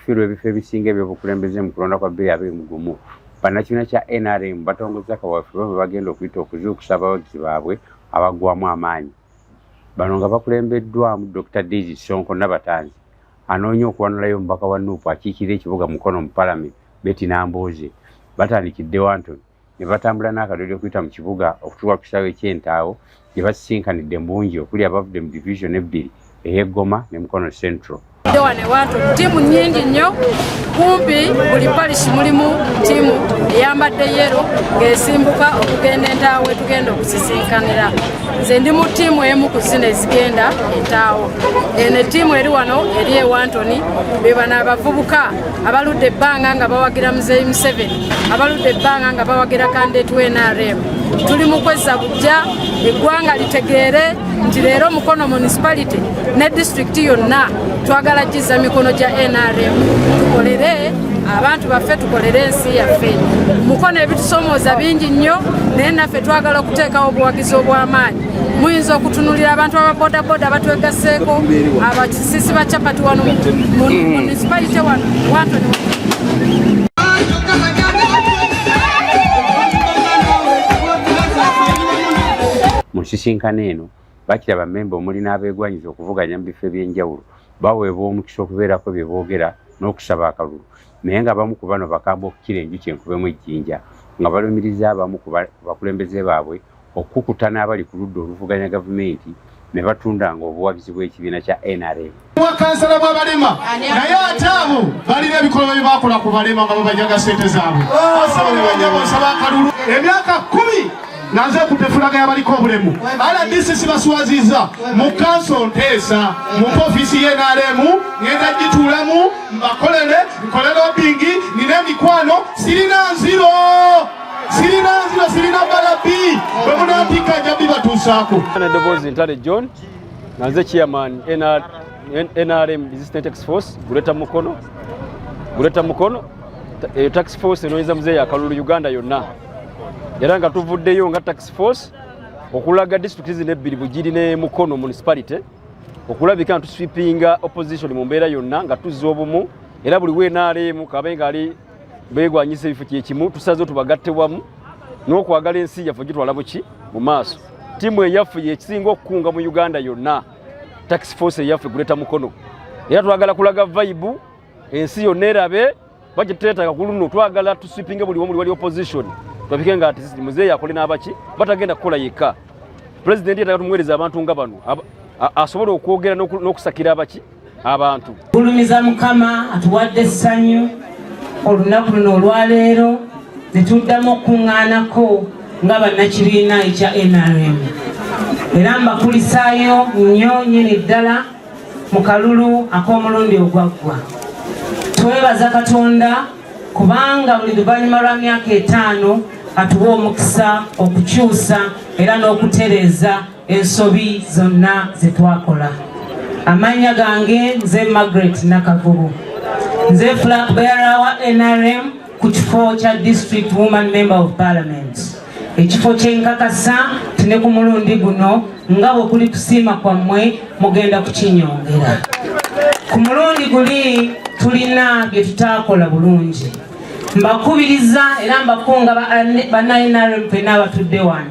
Fiirwa ebifo ebisinga ebyobukulembeze mu kulonda kwa bbiri abiri mu gumu bannakibiina kya nrm batongozza kaweefube bwe bagenda okuyita okuzuukusa abawagizi baabwe abaggwamu amaanyi bano nga bakulembeddwamu dr daisy sonko nabatanzi anoonya okuwanulayo omubaka wa nuupu akiikirira ekibuga mukono mu palamenti beti nambooze batandikidde wantoni ne batambula n'akadoodi okuyita mu kibuga okutuuka ku kisaawe eky'entaawo gye basisinkanidde mu bungi okuli abavudde mu division ebbiri ey'eggoma ne mukono central wano ewantu ttiimu nyingi nnyo kumpi buli parish mulimu ttiimu eyambadde yero ng'esimbuka okugenda entaawo etugenda okusisinkanira nze ndi mu ttiimu emu ku zino ezigenda entaawo eno ettiimu eri wano eri ewantoni bebano abavubuka abaludde ebbanga nga bawagira muzeeyi museveni abaludde ebbanga nga bawagira kandeetu nrm tuli mu kwezza bujja eggwanga litegeere nti leero mukono municipality ne disitulikiti yonna twagala kizza mikono gya nrm tukolere abantu baffe tukolere ensi yaffe mukono ebitusomooza bingi nnyo naye naffe twagala okuteekawo obuwagizi obw'amaanyi muyinza okutunulira abantu ababodaboda abatwegaseeko abakisisi ba capati wano munisipalite wano wantoni mu nsisinkano eno bakira bamemba omuli n'abeegwanyiza okuvuganya mu bifo eby'enjawulo baweebwa omukisa okubeerako bye boogera n'okusaba akalulu naye nga abamu ku bano bakamba okukira enjuki enkubemu ejjinja nga balumiriza abamu ku bakulembeze baabwe okukukuta n'abali ku ludda oluvuganya gavumenti ne batundanga obuwagizi bw'ekibiina kya nrm bwakansala bw'abalema naye ate abo balina ebikolwa bye bakola ku balema nga babajaga ssente zaabwe osaba ne banyabo nsaba akalulu emyaka kkumi nga nze ku tefulaga yabaliko obulemu rdc sibaswaziza mu kanso nteesa mu ofisi yenaremu ngenda gituulamu mbakolere nkolere obingi nina emikwano sirina nziro sirina nzira sirina balabi bwe munampika nja bibatuusaako eddoboozi ntale john nga nze chairman nrm resistant tax force guleta mukono guleta mukono eyo eh, tax force enoonyeza muzeeyi akalulu uganda yonna era nga tuvuddeyo nga tax force okulaga district zino ebbiri bugiri ne mukono municipality okulabika nga tuswipinga opposition mu mbeera yonna nga tuzza obumu era buli weenaaleemu kabe nga ali begwanyisa ebifo kyekimu tusaze tubagatte wamu n'okwagala ensi yaffe gitwala buki mu maaso tiimu eyaffe yekisinga okukunga mu uganda yonna tax force eyaffe guleta mukono era twagala kulaga vaibu ensi yonna erabe bakitetaka ku luno twagala tusipinge buli womuli wali opposition twapike nga ati muzeeyi akole n'abaki batagenda kukola yekka pulezidenti yetaga tumuweereza abantu nga bano asobole okwogera n'okusakira abaki abantu gulumiza mukama atuwadde essanyu olunaku luno olwaleero netuddamu okukuŋŋaanako nga bannakibiina ekya nrm era mbakulisaayo nnyo nyini ddala mu kalulu ak'omulundi ogwaggwa twebaza katonda kubanga buli luvannyuma lwa myaka etaano atuwa omukisa okukyusa era n'okutereeza ensobi zonna ze twakola amannya gange nze margaret nakavubu nze flag bearer wa nrm ku kifo kya district woman member of parliament ekifo kyenkakasa tine ku mulundi guno nga bwe kuli kusiima kwammwe mugenda kukinyongera ku mulundi guli tulina bye tutaakola bulungi mbakubiriza era mbakunga ba nrm fena abatudde wano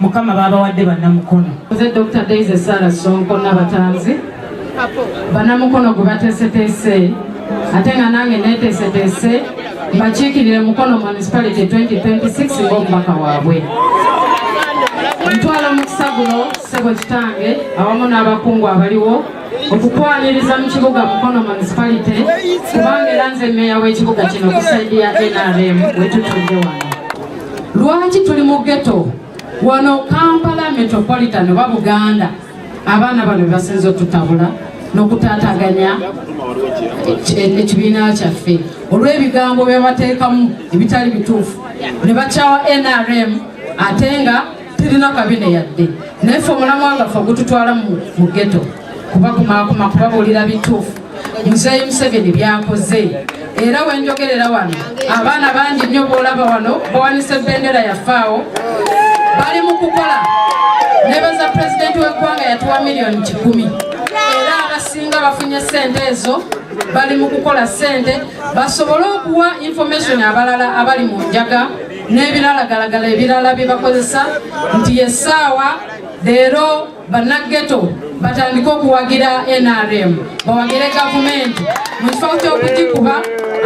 mukama babawadde banamukono nze dr daisy sara sonko nabatanzi banamukono gwe bateeseteese ate nga nange neteeseteese mbakiikirire mukono municipality 2026 ngaomubaka waabwe ntwala omukisa guno ssebo kitange awamu n'abakungu abaliwo okukwaniriza mu kibuga mukono municipality kubanga era nze meeya w'ekibuga kino ku saidi ya nrm wetutudde wano lwaki tuli mu geto wano kampala metropolitan oba buganda abaana bano bebasinza otutabula nokutataganya ekibiina kyaffe olwebigambo byebateekamu ebitali bituufu nebakyawa nrm ate nga tirina kabine yadde naye fe omulamwa nga fe ogututwala mu geto kubakumakuma kubabuulira bituufu muzeeyi museveni byakoze era wenjogerera wano abaana bangi nnyo boolaba wano bawanise bendera yafaawo bali mu kukola nebaza pulezidenti w'eggwanga yatuwa miliyoni kikumi era abasinga bafunye sente ezo bali mu kukola sente basobole okuwa information abalala abali mu njaga n'ebiralagalagala ebirala bye bakozesa nti yesaawa leero bannaggeto batandike okuwagira nrm bawagire gavumenti mu kifo ky'okugikuba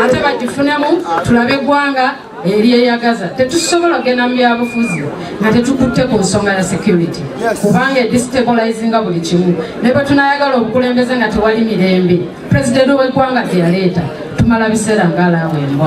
ate bagifunemu tulabe eggwanga eryeyagaza tetusobola kugenda mu byabufuzi nga tetukutte ku nsonga ya security kubanga edistabolizinga buli kimu ne bwe tunayagala obukulembeze nga tewali mirembe pulezidenti w'eggwanga teyaleeta tumala biseera ng'alaawo embwa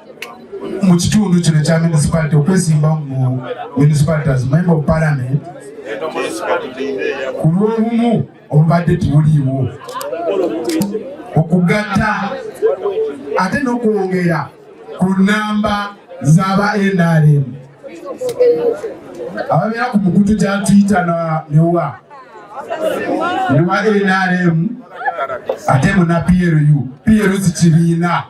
mu kitundu kino ekya municipality okwesimbawo mu municipality as member of parliament ku lw'obumu obubadde tibuliiwo okugatta ate n'okwongera ku nnamba z'aba nrm ababeera ku mukutu gya twitter newa newa nrm ate muna plu plu zikibiina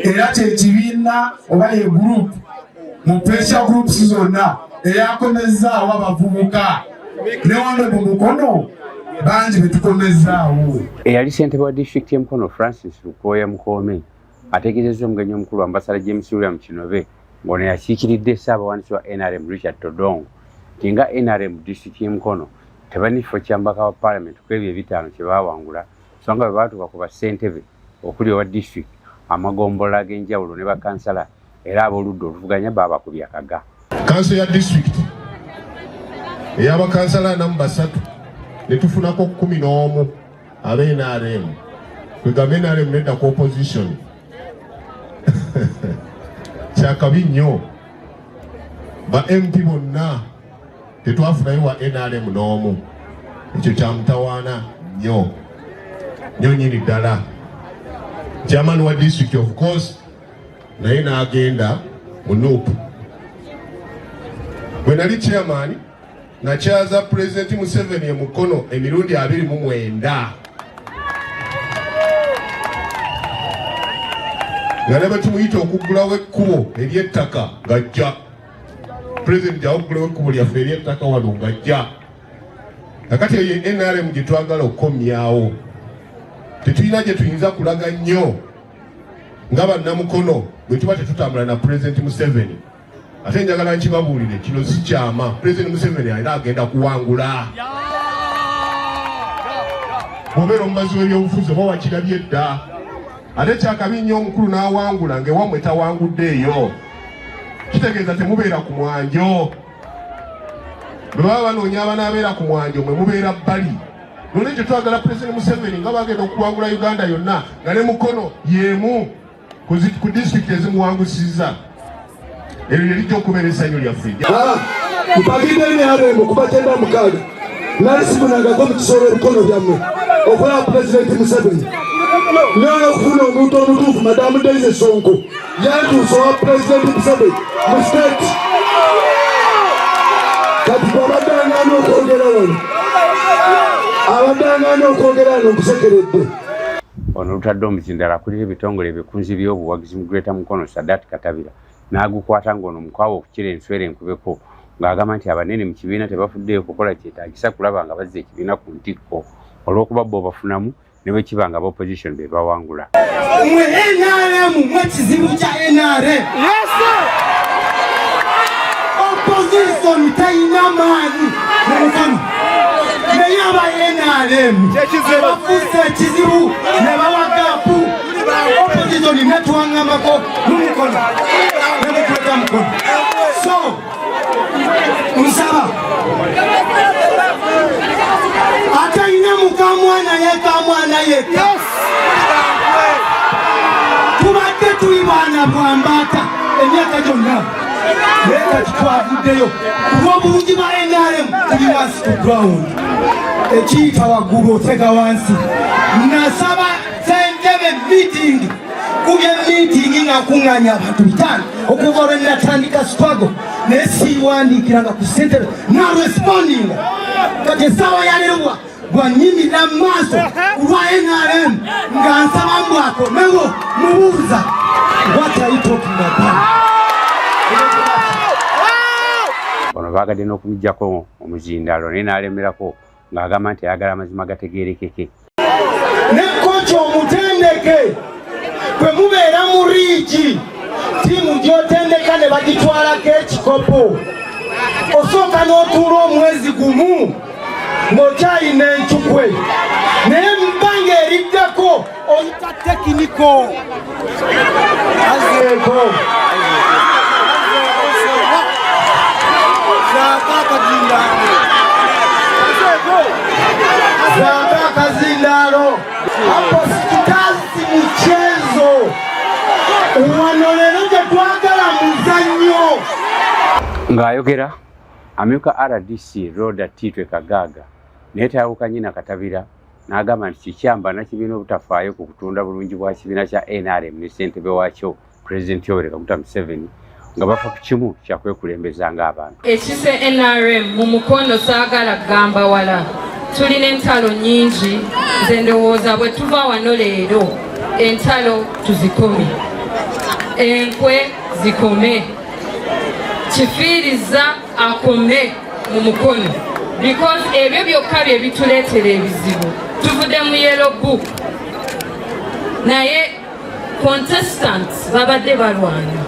era kyekibiina oba ye group mu pressure groups zonna eyakomezzaawo abavubuka ne wano mu mukono bangi betukomezzaawo eyali sentebe wa district ye mukono francis lukooya mukoome ategeezezza omugenyi omukulu ambasada james william kinobe ngono yakiikiridde ssaabawandiisi wa nrm richard todong nti nga nrm district ye mukono tebanifo kyambaka wa palamenti kwebyo ebitaano kyebawangula so nga bwebaatuka ku bassentebe okuli owa district amagombolola ag'enjawulo ne bakansala era ab'oludda oluvuganya baabakubye akaga kanso ya district eyabakansala anamu basatu ne tufunako kumi n'omu aba nrm kwegamba nrm nedda ku opposition kyakabi nnyo ba mp bonna tetwafunayo wa nrm n'omu ekyo kyamutawaana nnyo nyo nyini ddala chairman wa district of course naye n'agenda mu nup bwe nali chairman nakyaza pulezidenti museveni emukono emirundi abiri mu mwenda nga ne bwe tumuyita okuggulawo ekkubo ery'ettaka ng'ajja pulezidenti awuggulawo ekkubo lyaffe eryettaka wano ngajja kakati eyo nrm gye twagala okukomyawo tetulina gye tuyinza kulaga nnyo nga bannamukono bwe tuba tetutambula na pulezidenti museveni ate njagala nkibabuulire kino si kyama pulezidenti museveni alina agenda kuwangula bwobeera omubazi w'ebyobufuzi oba wakirabye dda ate kyakabi nnyo omukulu n'awangula ng'ewammwe tawangudde eyo kitegeeza temubeera ku mwanjo bwe baba banoonya abanaabeera ku mwanjo mwe mubeera bbali nolwekyo twagala pulezidenti museveni nga bagenda okuwangula uganda yonna nga ne mukono yemu ku disitulikiti ezimuwangusiza eryo lye lijja okubeera essanyu lyaffe kupakidde emyalo emu kubakyenda mukaaga nali simunangako mu kisoola ebikono byammwe okulaba ku pulezidenti museveni naye okufuna omuntu omutuufu madamu daize sonko yantuusa owa pulezidenti museveni mu state kati gwabaddangaana okwogera wano abaddangaana okwogera wano nkusekeredde ono lutadde omuzindala akulira ebitongole ebikunzi by'obuwagizi mu greater mukono sadat katabira n'agukwata ng'ono mukwawa okukira enswera enkubeko ng'agamba nti abanene mu kibiina tebafuddeyo kukola kyetaagisa kulaba nga bazza ekibiina ku ntikko olw'okuba bo bafunamu ne bwe kiba nga bopposition be bawangula mwe nrm mwe kizibu kya nrm opposition talina maanyi mukama naye aba nrm abafuusa ekizibu ne bawa gaapu opposition netwangambako mumukono nemukweka mukono so nsaba ate yina mukamwana yekamwana yeka tubadde tuli baana bwambata emyaka gyonna naye kati twavuddeyo kulwobulungi ba nrm tuli wansi ku ground ekiyita waggulu otega wansi nasaba Ssentebe meeting kubye meeting ng'akuŋŋaanya abantu bitaano okuva lwe natandika struggle naye siiwandiikiranga ku ssentebe narespondinga kati essaawa yalewa gwanyimira mu maaso kulwa nrm nga nsaba mbu akomewo mubuuza what are you talking about bano baagadde n'okumujjako omuzindaalo naye n'alemerako ng'agamba nti ayagala amazima gategeerekeke ne koci omutendeke bwe mubeera mu riigi ttiimu gy'otendeka ne bagitwalako ekikopo osooka n'otuula omwezi gumu ng'okyalina encukwe naye mu bbanga eriddeko oyita tekiniko azeeko Ng'ayogera amyuka RDC Rhoda Titwe Kagaaga naye tayawukanye na Katabira n'agamba nti kikyamba nakibiina obutafaayo ku kutunda bulungi bwa kibiina kya nrm ne ssentebe waakyo pulezidenti yoweri kaguta museveni nga bafa ku kimu kyakwekulembeza ng'abantu ekise nrm mu mukono saagala kugamba wala tulina entalo nyingi nze ndowooza bwe tuva wano leero entalo tuzikome enkwe zikome kifiiriza akome mu mukono because ebyo byokka bye bituleetera ebizibu tuvudde mu yellow book naye contestants babadde balwana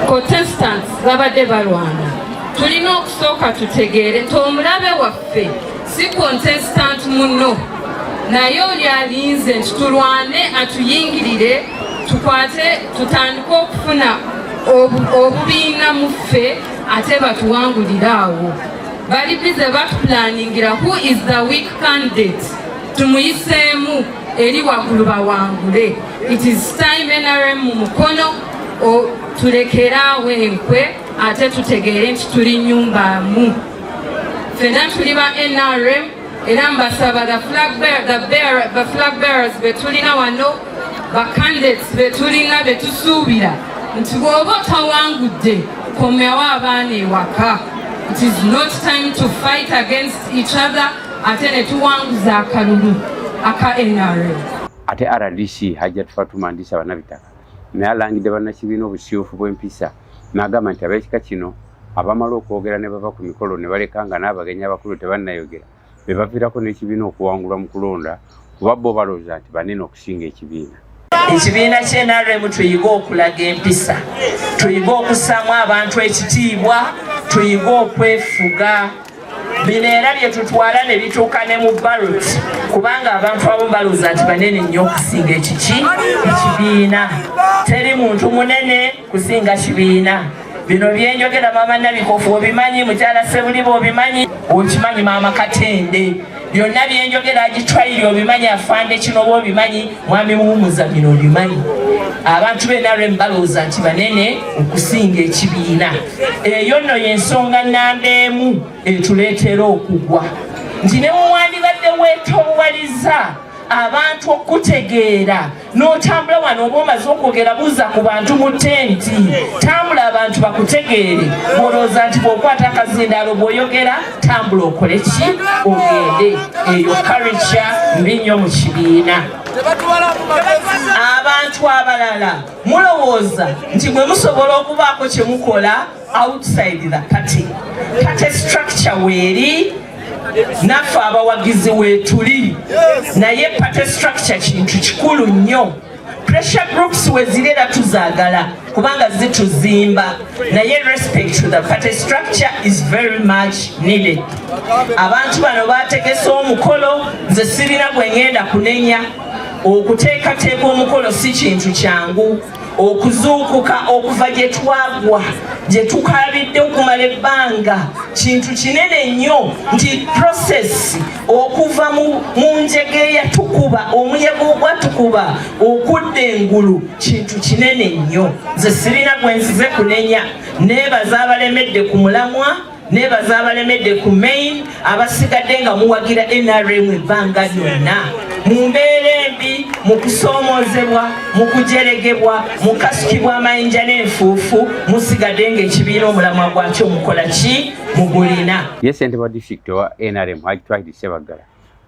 contestants babadde balwana tulina okusooka tutegeere nti omulabe waffe si contestant muno naye oli alinze nti tulwane atuyingirire tukwate tutandike okufuna obubiina mu ffe ate batuwangulire awo bali bize batupulaningira who is the weak candidate tumuyiseemu eri waggulu bawangule it is time nrm mu mukono tulekeraawo enkwe ate tutegeere nti tuli nyumba mu fena tuli ba nrm era mbasaba the flag bearers betulina wano bakandidates betulina betusuubira nti bwoba otawangudde komyawo abaana ewaka it is not time to fight against each other ate netuwanguza akalulu aka nrm ate rdc hajat fatuma ndisa banabitaka naye alangidde bannakibiina obusiufu bw'empisa n'agamba nti ab'ekika kino abamala okwogera ne bava ku mikolo ne baleka nga n'abagenyi abakulu tebannayogera be baviirako n'ekibiina okuwangulwa mu kulonda kuba bo balowooza nti banene okusinga ekibiina ekibiina kyenaremu tuyige okulaga empisa tuyige okusaamu abantu ekitiibwa tuyige okwefuga bino era bye tutwala ne bituuka ne mu barot kubanga abantu abamu balowooza nti banene nnyo okusinga ekiki ekibiina teri muntu munene kusinga kibiina bino byenjogera maama nabikofu obimanyi mukyala sebuliba obimanyi okimanyi maama katende byonna byenjogera agitwaire obimanyi afande kino oba obimanyi mwami muwumuza bino obimanyi abantu benarem balowooza nti banene okusinga ekibiina eyo nno yensonga namba emu etuleetera okugwa nti ne muwandibadde wetowaliza abantu okutegeera n'otambula wano oba omaze okwogera buuza ku bantu mu tenti tambula abantu bakutegeere bwolowooza nti bwokwata akazindaalo bwoyogera tambula okole ki ogende eyo karica mbi nnyo mu kibiina abantu abalala mulowooza nti mwe musobola okubaako kye mukola outside the party party structure weeri naffe abawagizi weetuli naye party structure kintu kikulu nnyo pressure groups weziri era tuzaagala kubanga zituzimba naye respect to the party structure is very much needed abantu bano bategese omukolo nze sirina gwe ngenda kunenya okuteekateeka omukolo si kintu kyangu okuzuukuka okuva gye twagwa gye tukaabidde okumala ebbanga kintu kinene nnyo nti prosesi okuva mu njega eyatukuba omuyaga ogwatukuba okudda engulu kintu kinene nnyo nze sirina gwe nzize kunenya neebaza abalemedde ku mulamwa nebaza abalemedde ku main abasigadde nga muwagira nrm ebbanga lyonna mu mbeera embi mu kusoomoozebwa mu kujeregebwa mu kasukibwa amayinja n'enfuufu musigadde ng'ekibiina omulamwa gwakyo mukola ki mugulina ye ssente wa disitulikiti owa nrm hajitwahidi sebaggala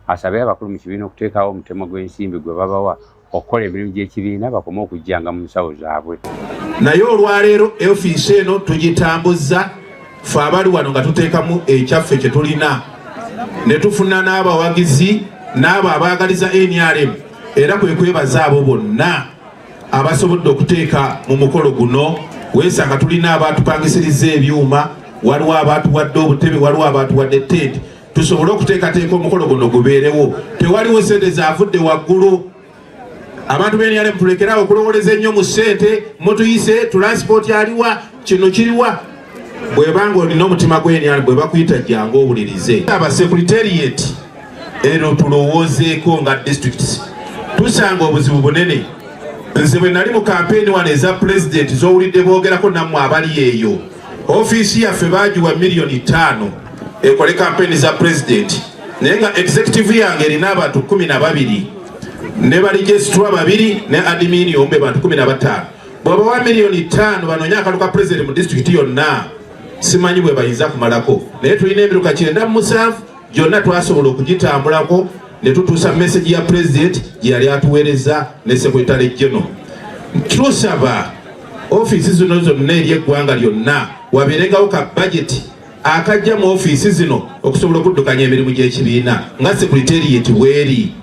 asabye abakulu mu kibiina okuteekawo omutemo gw'ensimbi gwe babawa okukola emirimu gy'ekibiina bakome okujjanga mu nsawo zaabwe naye olwaleero ofiisi eno tugitambuzza fe abali wano nga tuteekamu ekyaffe kye tulina ne tufuna n'abawagizi n'abo abaagaliza nrm era kwe kwebaza abo bonna abasobodde okuteeka mu mukolo guno weesanga tulina abaatupangisiriza ebyuma waliwo abaatuwadde obutebe waliwo abaatuwadde tenti tusobole okuteekateeka omukolo guno gubeerewo tewaliwo sente zavudde waggulu abantu beniyale mutulekerawo okulowoleza ennyo mu sente mutuyise tulansipooti aliwa kino kiriwa bwebanga olina omutima gweniyale bwebakuyita jangu owulirize aba secretariat ero tulowoozeeko nga districts tusanga obuzibu bunene nze bwe nali mu kampeyini wano eza pulezidenti zowulidde boogerako nammwe abali eyo Ofiisi yaffe baagiwa miliyoni ttaano ekole kampeni za pulezidenti naye nga executive yange erina abantu kumi na babiri ne balijesitwa babiri ne adimini ombe bantu kumi na bataano bwebawa miliyoni ttaano banoonye akalu ka pulezidenti mu disitulikiti yonna simanyi bwe bayinza kumalako naye tulina ebiruka kyenda mu musanvu gyonna twasobola okugitambulako ne tutuusa mesegi ya pulezidenti gye yali atuweereza ne sekretale geno tusaba ofiisi zino zonna eri eggwanga lyonna wabeerengawo ka bajeti akajja mu ofiisi zino okusobola okuddukanya emirimu gy'ekibiina nga sekretariyeti weeri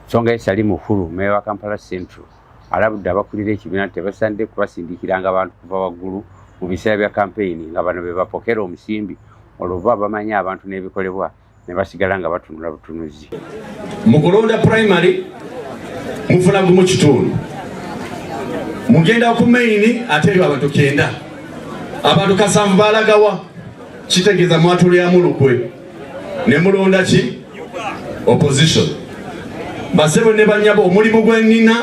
songa esali mukulu meewa kampala central alabudde abakulira ekibiina nti tebasanidde kubasindikiranga abantu kuva waggulu mu biseera bya kampeyini nga bano be bapokera omusimbi olwo bo abamanyi abantu n'ebikolebwa ne basigala nga batunula butunuzi mu kulonda primary mufuna gumu kitundu mugenda ku maini ate ebyo abantu kyenda abantu kasanvu balagawa kitegeeza mwatulyamu lukwe ne mulonda ki opposition basebo ne banyabo omulimu gwenina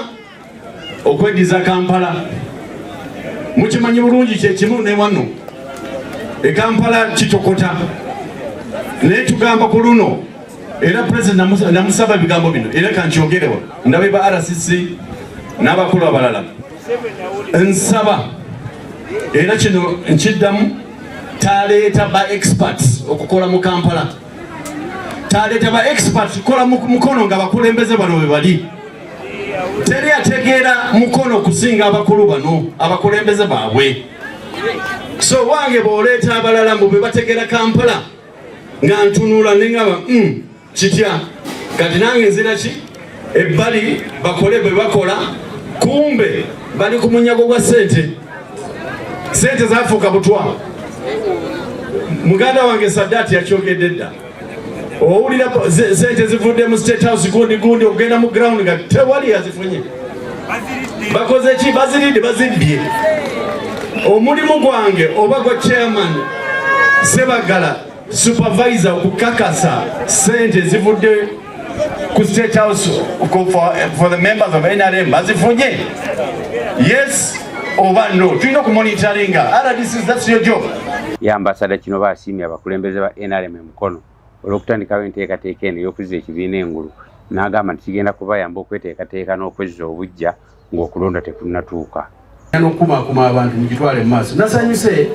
okwediza kampala mukimanyi bulungi kyekimu newano ekampala kitokota naye tugamba ku luno era president namusaba ebigambo bino era kankyogerewa ndabe ba rcc n'abakulu abalala nsaba era kino nkiddamu taleeta ba experts okukola mu kampala taleeta ba experts kukola mukono nga bakulembeze bano webali teri ategeera mukono okusinga abakulu bano abakulembeze baabwe so wange bwoleeta abalala mbu bebategeera kampala nga ntunula nengaba mm. kitya kati nange nzira ki ebbali bakole bwe bakola kumbe bali ku munyago gwa sente sente zafuuka butwa muganda wange sadati yakyogedde dda owulira sente zivudde mu state house gundi gundi okugenda mu ground nga tewali yazifunye bakoze ki baziridde bazibbye omulimu gwange oba gwa chairman sebagala Supervisor okukakasa sente zivudde ku State House for, for the members of NRM bazifunye yes oba no tulina okumonitoringa rdc that's your job ya ambasada kino basiimye abakulembeze ba nrm emukono olw'okutandikawo enteekateeka eno ey'okuzza ekibiina engulu n'agamba nti kigenda kubayamba okweteekateeka n'okwezza obuggya ng'okulonda tekunnatuuka. n'okukumaakuma abantu mu gitwale mu maaso nasanyuse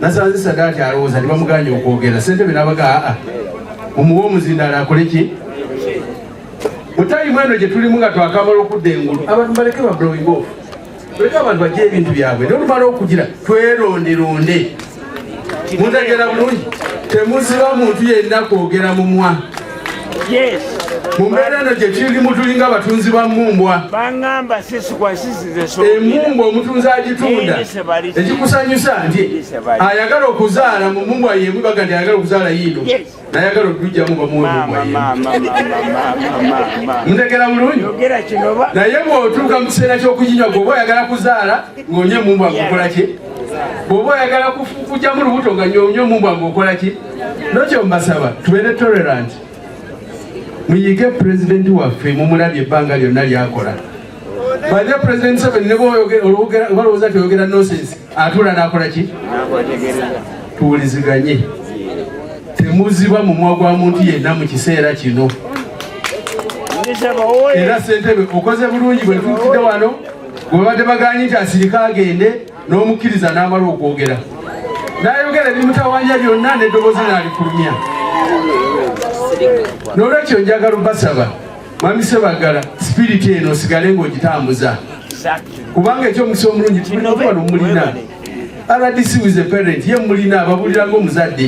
nasanze sadaati alowooza nti bamuganye okwogera ssentebe n'abaga aa mumuwa omuzindaalo akole ki mu tayimu eno gye tulimu nga twakamala okudda engulu abantu baleke bablowing off tuleke abantu bajja ebintu byabwe nolumala okugira tweronderonde mutegera bulungi temuziba muntu yenna kwogera mumwa mu mbeera eno gye kiri mutulinga batunzi ba mmumbwa emumbwa omutunzi agitunda ekikusanyusa nti ayagala okuzaala mu mmumbwa yemu baga nti ayagala okuzaala yiino nayagala okujjamu bamuwemutegera bulungi naye bwotuuka mu kiseera kyokujinywa gwoba oyagala kuzaala ngaonye emumbwa ngukolaki bwoba oyagala kujjamu lubuto nga nyonye omumbwa nguokolaki nokyo mbasaba tubeere tolerant muyige pulezidenti waffe mumulabye ebbanga lyonna lyakola Bajja President Museveni ne bwolowooza nti oyogera nonsense atuula n'akola ki? Tuwuliziganye. Temuziba mumwa gwa muntu yenna mu kiseera kino. Era ssentebe okoze bulungi bwe tuukidde wano bwe babadde bagaanyi nti asirike agende n'omukkiriza n'amala okwogera. N'ayogera ebimutawanya byonna n'eddoboozi n'alifulumya. N'olwekyo njagala basaba. Mwami Sebaggala, sipiriti eno osigale ng'ogitambuza kubanga ekyomukisa omulungi tulina okuba nomulina rdc was a parent ye mulina ababulira ng'omuzadde